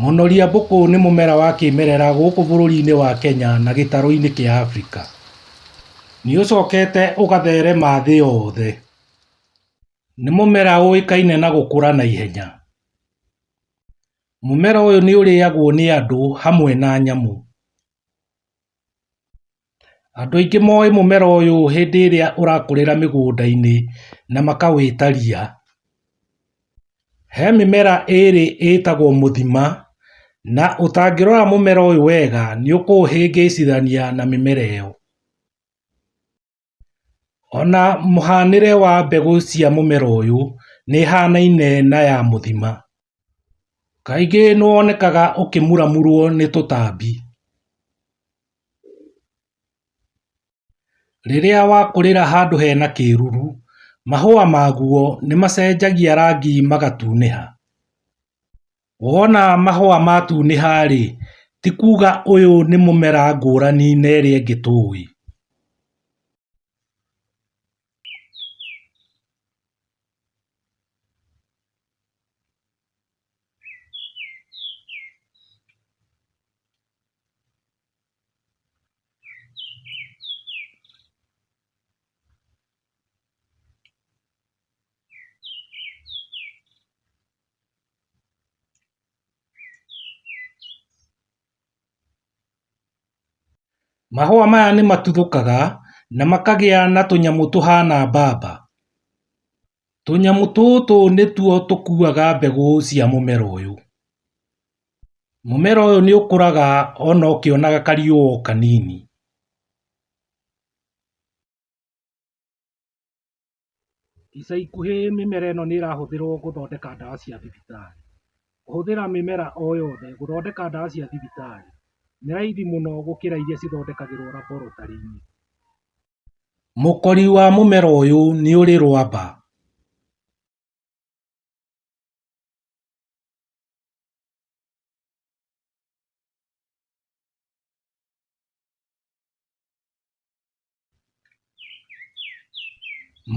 Mũnoria mbũkũ nĩ mũmera wa kĩmerera gũkũ bũrũri-inĩ wa Kenya na gĩtarũ-inĩ kĩa Afrika. Nĩ ũcokete ũgatherema thĩ yothe. Nĩ mũmera ũĩkaine na gũkũra na ihenya. Mũmera ũyũ nĩ ũrĩagwo nĩ andũ hamwe na nyamũ. Andũ aingĩ moĩ mũmera ũyũ hĩndĩ ĩrĩa ũrakũrĩra mĩgũnda-inĩ na makawĩta ria. He mĩmera ĩrĩ ĩtagwo mũthima, na ũtangĩrora mũmera ũyũ wega nĩũkũũhĩngĩcithania na mĩmera ĩyo. Ona mũhanĩre wa mbegũ cia mũmera ũyũ nĩ ĩhanaine na ya mũthima. Kaingĩ nĩ wonekaga ũkĩmuramurwo nĩ tũtambi. Rĩrĩa wakũrĩra handũ hena kĩruru, mahũa maguo nĩ macenjagia rangi magatunĩha. Wona mahũa matunĩha rĩ, ti kuga ũyũ nĩ mũmera ngũrani na ĩrĩa ĩngĩ tũĩ. Mahũa maya nĩ matuthũkaga na makagĩa na tũnyamũ tũhana mbamba. Tũnyamũ tũtũ nĩtuo tũkuaga mbegũ cia mũmera ũyũ. Mũmera ũyũ nĩ ũkũraga ona ũkĩonaga kariũa o kanini. Ica ikuhĩ mĩmera ĩno nĩ ĩrahũthĩrwo gũthondeka ndawa cia thibitarĩ. Kũhũthĩra mĩmera o yothe gũthondeka ndawa cia thibitarĩ nĩ raithi mũno gũkĩra iria cithondekagĩrwo laboratory-inĩ. Mũkori wa mũmera ũyũ nĩ ũrĩ rwamba.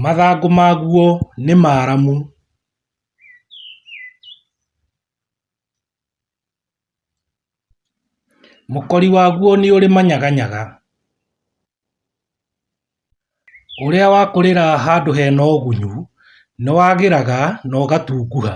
Mathangũ maguo nĩ maramu. Mũkori waguo nĩ ũrĩ manyaganyaga. Ũrĩa wakũrĩra handũ hena ũgunyu nĩ wagĩraga na ũgatunguha.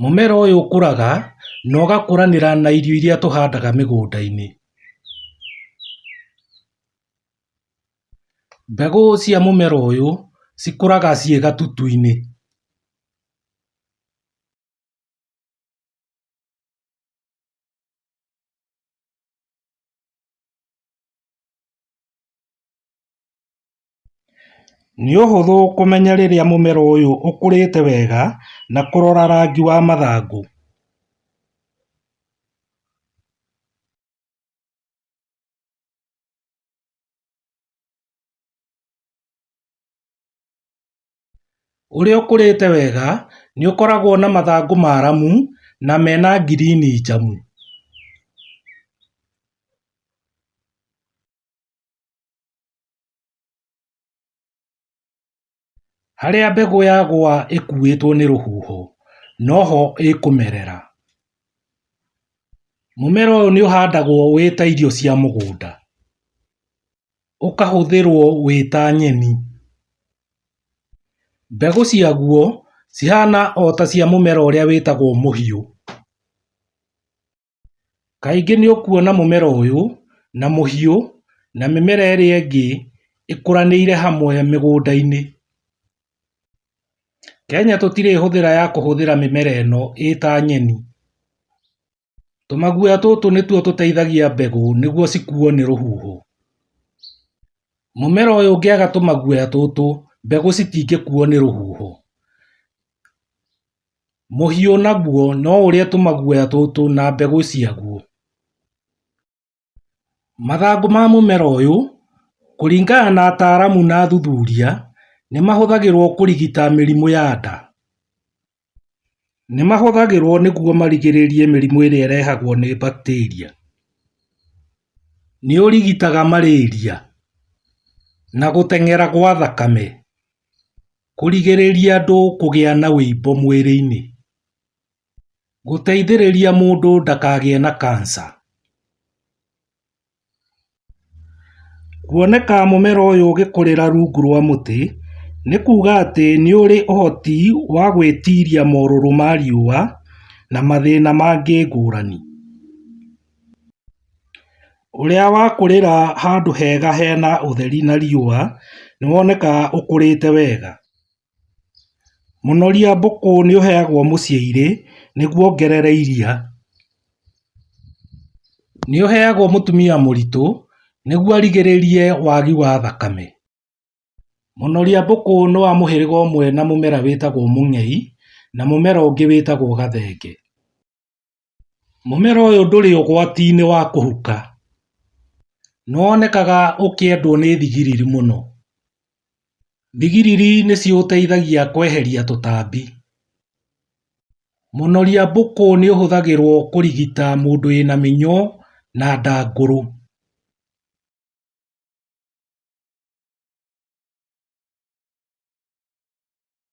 Mũmera ũyũ ũkũraga na ũgakũranĩra na irio iria tũhandaga mĩgũnda-inĩ. Mbegũ cia mũmera ũyũ cikũraga ciĩ gatutu-inĩ. Nĩ ũhũthũ kũmenya rĩrĩa mũmera ũyũ ũkũrĩte wega na kũrora rangi wa mathangũ. Ũrĩa ũkũrĩte wega nĩ ũkoragwo na mathangũ maramu na mena ngirini njamu. Harĩa mbegũ yagũa ĩkuĩtwo nĩ rũhuho noho ĩkũmerera. Mũmera ũyũ nĩ ũhandagwo wĩ ta irio cia mũgũnda, ũkahũthĩrwo wĩ ta nyeni. Mbegũ ciaguo cihana ota cia mũmera ũrĩa wĩtagwo mũhiũ. Kaingĩ nĩũkuona mũmera ũyũ na mũhiũ na mĩmera ĩrĩa ĩngĩ ĩkũranĩire hamwe mĩgũnda-inĩ. Kenya tũtirĩ hũthĩra ya kũhũthĩra mĩmera ĩno ĩta nyeni. Tũmaguoya tũtũ nĩtuo tũteithagia mbegũ nĩguo cikuo nĩ rũhuho. Mũmera ũyũ ũngĩaga tũmaguoya tũtũ mbegũ citingĩkuo nĩ rũhuho. Mũhiũ naguo no ũrĩe tũmaguoya tũtũ na mbegũ ciaguo. Mathangũ ma mũmera ũyũ kũringana na ataramu na athuthuria nĩmahũthagĩrwo kũrigita mĩrimũ ya nda. Nĩmahũthagĩrwo nĩguo marigĩrĩrie mĩrimũ ĩrĩa ĩrehagwo nĩ bacteria. Nĩũrigitaga marĩria na gũteng'era gwa thakame. Kũrigĩrĩria andũ kũgĩa na ũimbo mwĩrĩ-inĩ. Gũteithĩrĩria mũndũ ndakagĩe na kansa. Kuoneka mũmera ũyũ ũgĩkũrĩra rungu rwa mũtĩ nĩ kuuga atĩ nĩ ũrĩ ũhoti wa gwĩtiria morũrũ ma riũa na mathĩna mangĩ ngũrani. Ũrĩa wakũrĩra handũ hega hena ũtheri na riũa nĩwonekaga ũkũrĩte wega. Mũnoria mbũkũ nĩũheagwo mũciĩ irĩ nĩguo ongerere iria. Nĩũheagwo mũtumia mũritũ nĩguo arigĩrĩrie wagi wa thakame. Mũnoria mbũkũ nĩ wa mũhĩrĩga ũmwe na mũmera wĩtagwo mũngei na mũmera ũngĩ wĩtagwo gathenge. Mũmera ũyũ ndũrĩ ũgwati-inĩ wa kũhuka, nĩ wonekaga ũkĩendwo nĩ thigiriri mũno. Thigiriri nĩ ciũteithagia kweheria tũtambi. Mũnoria mbũkũ nĩ ũhũthagĩrwo kũrigita mũndũ wĩna mĩnyoo na ndangũrũ.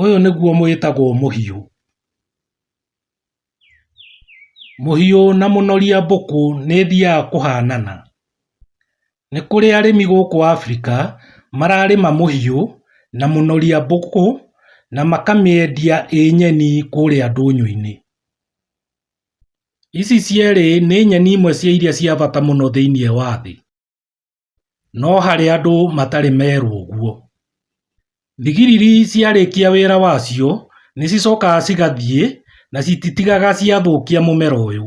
ũyũ nĩguo wĩtagwo mũhiũ Mũhiũ na mũnoria mbũkũ nĩ thiaga kũhanana. Nĩ kũrĩ arĩmi gũkũ Africa mararĩma mũhiũ na mũnoria mbũkũ na makamĩendia ĩ nyeni kũrĩa ndũnyũ-inĩ. Ici cierĩ nĩ nyeni imwe cia iria cia bata mũno thĩinĩ wa thĩ. No harĩ andũ matarĩ merwo ũguo, thigiriri ciarĩkia wĩra wacio nĩcicokaga cigathiĩ na cititigaga ciathũkia mũmera ũyũ.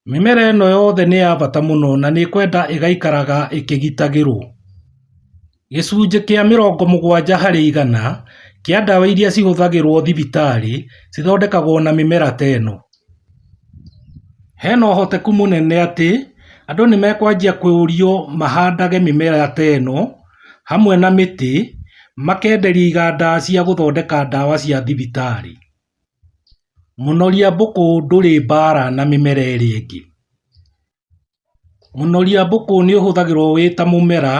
Mĩmera ĩno yothe nĩ ya bata mũno na nĩkwenda ĩgaikaraga ĩkĩgitagĩrwo. Gĩcunjĩ kĩa mĩrongo mũgwanja harĩ igana kĩa ndawa iria cihũthagĩrwo thibitarĩ cithondekagwo na mĩmera ta ĩno. Hena ũhoteku mũnene atĩ andũ nĩ mekwanjia kũũrio mahandage mĩmera ta ĩno hamwe na mĩtĩ makenderia iganda cia gũthondeka ndawa cia thibitarĩ. Mũnoria mbũkũ ndũrĩ mbara na mĩmera ĩrĩa ĩngĩ. Mũnoria mbũkũ nĩ ũhũthagĩrũo wĩ ta mũmera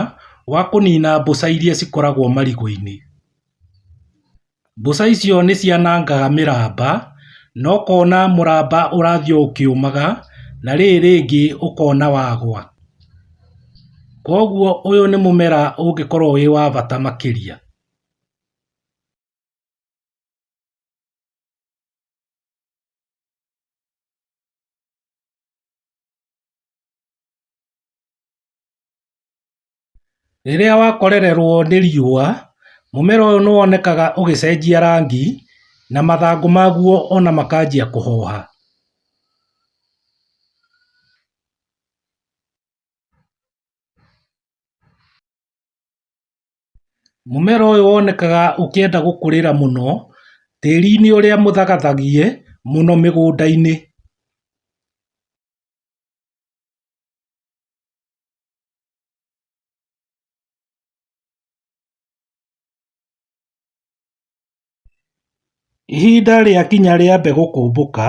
wa kũniina mbũca iria cikoragwo marigũ-inĩ. Mbũca icio nĩ cianangaga mĩramba na ũkona mũramba ũrathiĩ o ũkĩũmaga na rĩrĩ rĩngĩ ũkona wagũa. Kwoguo ũyũ nĩ mũmera ũngĩkorũo wĩ wa bata makĩria. Rĩrĩa wakorererwo nĩ riũa, mũmera ũyũ nĩ wonekaga ũgĩcenjia rangi na mathangũ maguo ona makanjia kũhoha. Mũmera ũyũ wonekaga ũkĩenda gũkũrĩra mũno tĩri-inĩ ũrĩa mũthagathagie mũno mĩgũnda-inĩ Ihinda rĩakinya rĩa mbegũ kũmbũka,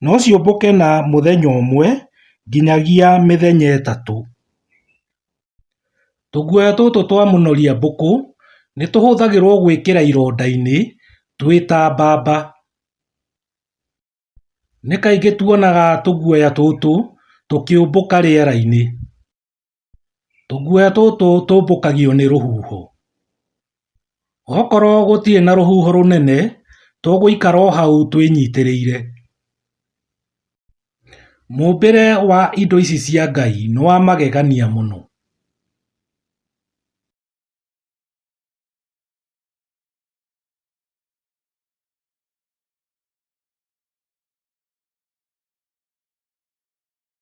no ciũmbũke na mũthenya ũmwe nginyagia mĩthenya ĩtatũ. Tũguoya tũtũ twa mũnoria mbũkũ nĩ tũhũthagĩrwo gwĩkĩra ironda-inĩ twĩ ta mbamba. Nĩ kaingĩ tuonaga tũguoya tũtũ tũkĩũmbũka rĩera-inĩ. Tũguoya tũtũ tũmbũkagio nĩ rũhuho. Okorwo gũtirĩ na rũhuho rũnene, tũgũikara o hau twĩnyitĩrĩire. Mũmbĩre wa indo ici cia Ngai nĩ wa magegania mũno.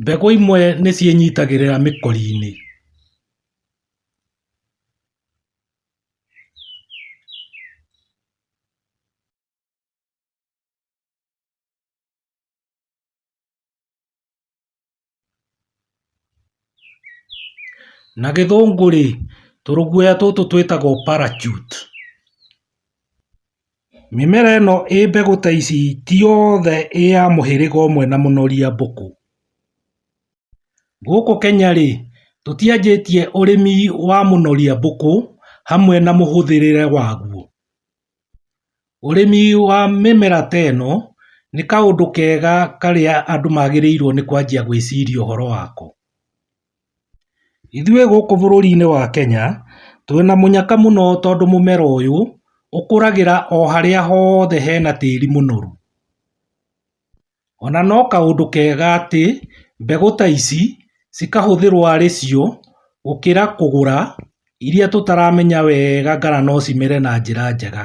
Mbegũ imwe nĩ ciĩnyitagĩrĩra mĩkori-inĩ. Na gĩthũngũ rĩ, tũrũguoya tũtũ twĩtagwo parachute. Mĩmera ĩno ĩ mbegũ ta ici ti yothe ĩ ya mũhĩrĩga ũmwe na mũnoria mbũkũ. Gũkũ Kenya rĩ, tũtianjĩtie ũrĩmi wa mũnoria mbũkũ hamwe na mũhũthĩrĩre waguo. Ũrĩmi wa mĩmera ta ĩno nĩ kaũndũ kega karĩa andũ magĩrĩirwo nĩ kwanjia gwĩciria ũhoro wako. Ithuĩ gũkũ bũrũri-inĩ wa Kenya twĩna mũnyaka mũno tondũ mũmera ũyũ ũkũragĩra o harĩa hothe hena tĩri mũnoru. Ona no kaũndũ kega atĩ mbegũ ta ici cikahũthĩrwo arĩ cio gũkĩra kũgũra iria tũtaramenya wega kana no cimere na njĩra njega.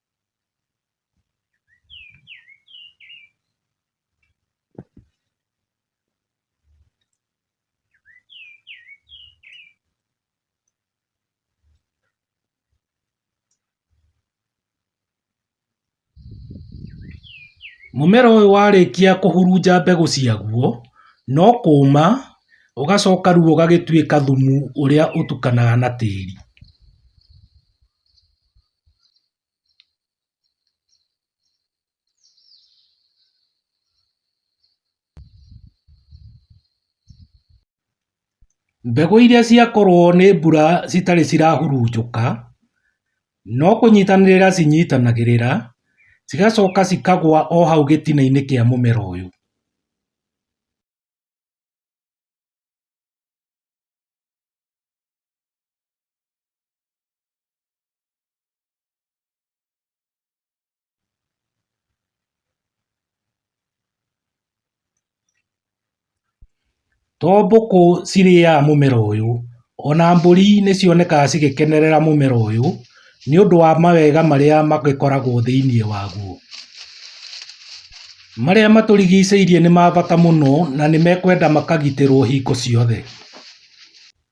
Mũmera ũyũ warĩkia kũhurunja mbegũ ciaguo, no kũũma ũgacoka rĩu ũgagĩtuĩka thumu ũrĩa ũtukanaga na tĩri. Mbegũ iria ciakorwo nĩ mbura citarĩ cirahurunjũka, no kũnyitanĩrĩra cinyitanagĩrĩra, cigacoka cikagwa o hau gĩtina-inĩ kĩa mũmera ũyũ. To mbũkũ cirĩaga mũmera ũyũ, o na mbũri nĩ cionekaga cigĩkenerera mũmera ũyũ nĩ ũndũ wa mawega marĩa magĩkoragwo thĩinĩ waguo. Marĩa matũrigicĩirie nĩ ma bata mũno na nĩ mekwenda makagitĩrwo hingo ciothe.